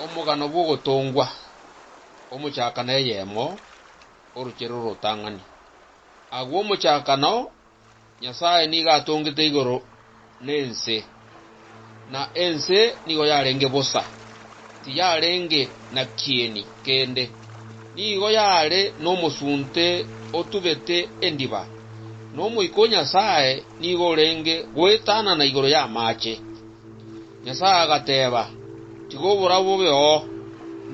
Omogano bw'ogotongwa, omochakano eyemo, orochere orotang'ani. Agwo omochakano, Nyasae nigo atongete igoro na ense, na ense nigo yarenge bosa, tiyarenge na kieni kende. Nigo yare nomosunte otubete endiba, na Omoika o Nyasae nigo orenge goetanana igoro y'amaache, Nyasae agateeba, Tiga oborabu bobeoo,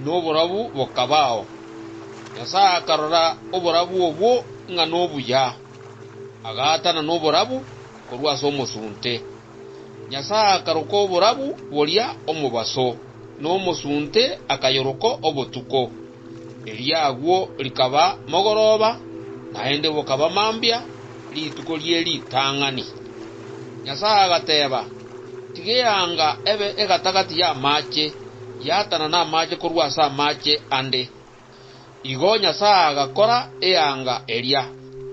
noborabu bokabao. Nyasae akarora oborabu obwo ng'a nobuya, agaatana noborabu korwa ase omosunte. Nyasae akaroka oborabu boria omobaso, na omosunte akayoroko obotuko. Erio agwo rikaba mogoroba, naende bokaba mambia, rituko rie ritang'ani. Nyasae agateeba, Tiga eanga ebe egatagati y'amaache, yatanane amaache korwa ase amaache ande. Igo Nyasae agakora eanga eria,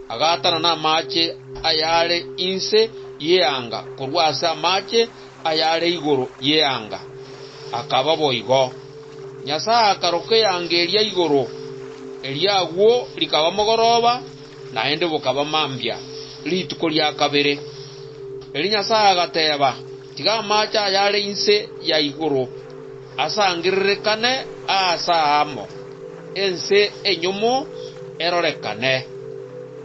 agatanana amaache ayare inse y'eanga korwa ase amaache, ayare igoro y'eanga, akaba boigo. Nyasae akaroka eanga eria igoro, erio agwo rikaba mogoroba, naende bokaba mambia, rituko ria kabere. Erio Nyasae agateeba, Tiga amaache ayare inse ya igoro asangererekane aase aamo, ense enyomo erorekane.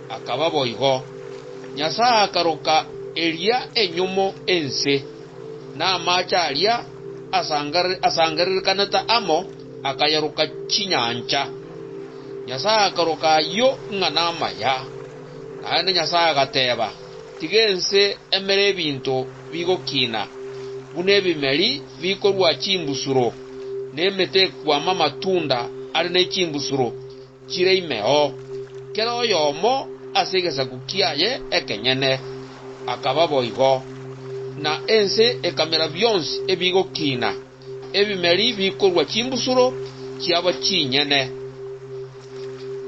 Akaba boigo. Nyasae akaroka eria enyomo ense, na amache aria asangererekanete amo akayaroka chinyancha. Nyasae akaroka ayio ng'a namaya. Naende Nyasae agateba, Tiga ense emere ebinto bigokina, buna ebimeri bikorua chimbusuro, na emete ekwama amatunda are ne chimbusuro, chire imeo, kera oyomo ase egesaku kiaye ekenyene, akaba boigo. Na ense ekamera bionsi ebigokiina, ebimeri bikorua chimbusuro chiabo chinyene,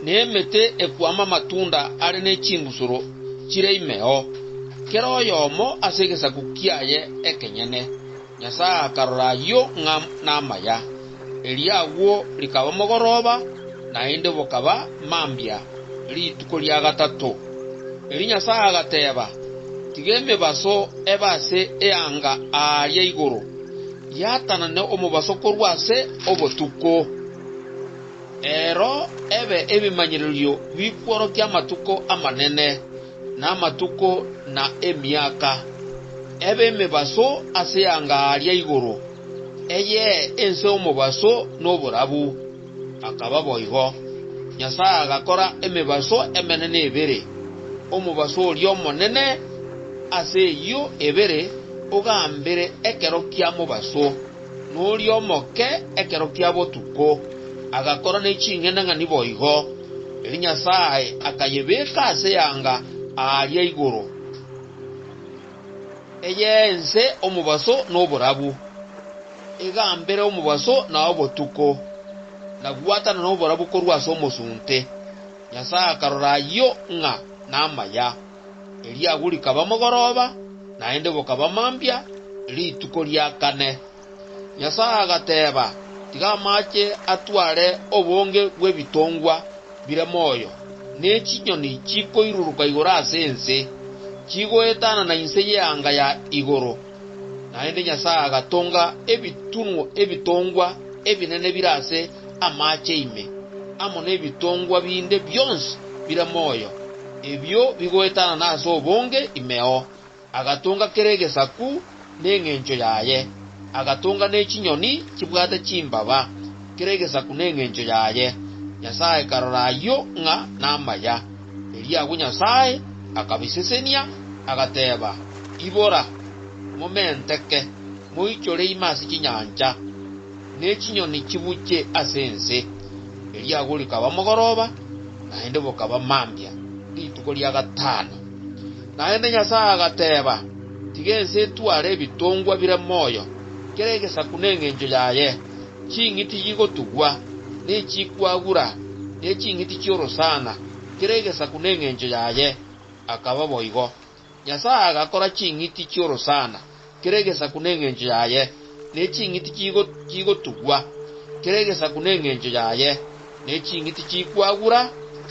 na emete ekwama amatunda are ne chimbusuro chire imeo, kera oyomo ase egesaku kiaye ekenyene. Nyasae akarora ayio ng'a namaya. Erio agwo rikaba mogoroba, naende bokaba mambia, rituko ria gatato. Erio Nyasae agateeba, Tiga emebaso ebe ase eanga aaria igoro, yatanane omobaso korwa ase obotuko. Ero ebe ebimanyererio bikworokia amatuko amanene. namatuko na emiaka, ebe emebaso ase anga aria igoro, eyee ense omobaso noborabu. Akaba boigo. Nyasae agakora emebaso emenene ebere, omobaso oria omonene ase eyio ebere ogambire ekero kia mobaso. Noria omoke ekero kia botuko agakora ne ching'enang'ani boigo, erio Nyasae akayebeka ase eanga aaria igoro, eyeense omobaso na oborabu, egambere omobaso na obotuko, na gwatanana oborabu korwa ase omosunte. Nyasae akarora ayio ng'a namaya. Erio agwo rikaba mogoroba, naende bokaba mambia, rituko ria kane. Nyasae agateeba, Tiga amache atware obonge bw'ebitongwa bire moyo, ne chinyoni chikoiruruka igoro ase ense, chigoetanana inse y'eanga ya igoro, Naende Nyasae agatonga ebitunwa ebitongwa ebinene bire ase amaache ime, amo nebitongwa binde bionsi bire moyo, ebio bigoetanana ase obonge imeo. Agatonga kera egesaku nengencho yaye, agatonga ne chinyoni chibwate chimbaba, kera egesaku nengencho yaye. Nyasae karora ayio ng'a namaya. Erio agwo Nyasae akabisesenia, agateeba, Ibora, momenteke, moichore ime ase chinyancha, ne chinyoni chibuche ase ense. Erio agwo rikaba mogoroba, naende bokaba mambia, rituko ria gatano. Naende Nyasae agateeba, Tiga ense etware ebitongwa bire moyo, kera egesaku nengencho yaye, Ching'iti yigotugwa, ne chikwagura, ne ching'iti chi'orosana, kera egesaku nengencho yaye. Akaba boigo. Nyasae agakora ching'iti chi'orosana, kera egesaku nengencho yaye, ne ching'iti yigotugwa, kera egesaku nengencho yaye, ne ching'iti chikwagura,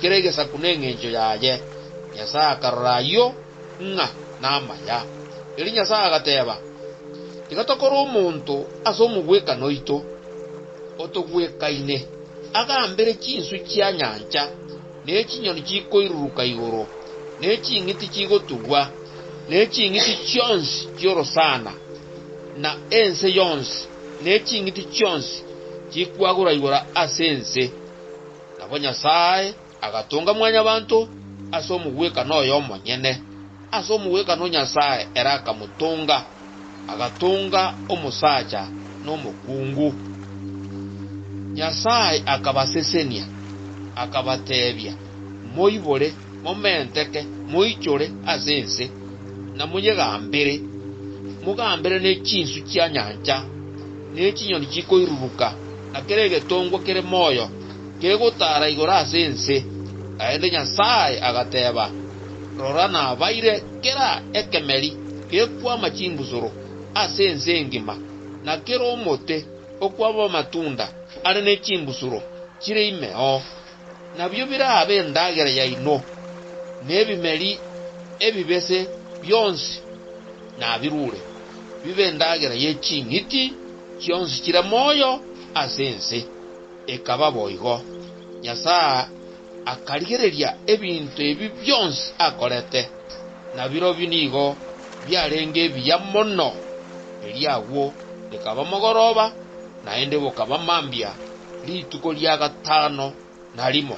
kera egesaku nengencho yaye. Nyasae akarora ayio. ng'a namaya. Erio Nyasae agateeba, Tiga tokore omonto ase omogwekano oito, otogwekaine, agambere chinswe chia nyancha, ne chinyoni chikoiruruka igoro, ne ching'iti chigotugwa, ne ching'iti chionsi chi'orosana, na ense yonsi, ne ching'iti chionsi chikwagura igoro ase ense. Nabo Nyasae Agatunga mwanyabanto ase omogwekano oye omonyene, ase omogwekano Nyasae ere akamotunga, agatunga omosacha nomokungu. Nyasae akabasesenia, akabateebia, Moibore, momenteke, moichore ase ense, na moyegambere, mogambere ne chinsu chia nyancha, ne chinyoni chikoiruruka, na kera egetongwa kere moyo. Kegotaara igoro ase ense, naende Nyasae agateeba, Rora nabaire kera ekemeri gekwama chimbusuro ase ense engima, na kera omote okwama amatunda are ne chimbusuro chire ime oo, nabio birabe endagera yaino, na ebimeri ebibese bionsi nabirure, bibe endagera ye ching'iti chionsi chire moyo ase ense. Ekaba boigo. Nyasae akarigereria ebinto ebi bionsi akorete, na birobio nigo biarenge ebiya mono. Erio agwo ekaba mogoroba, naende bokaba mambia, rituko ria gatano na rimo.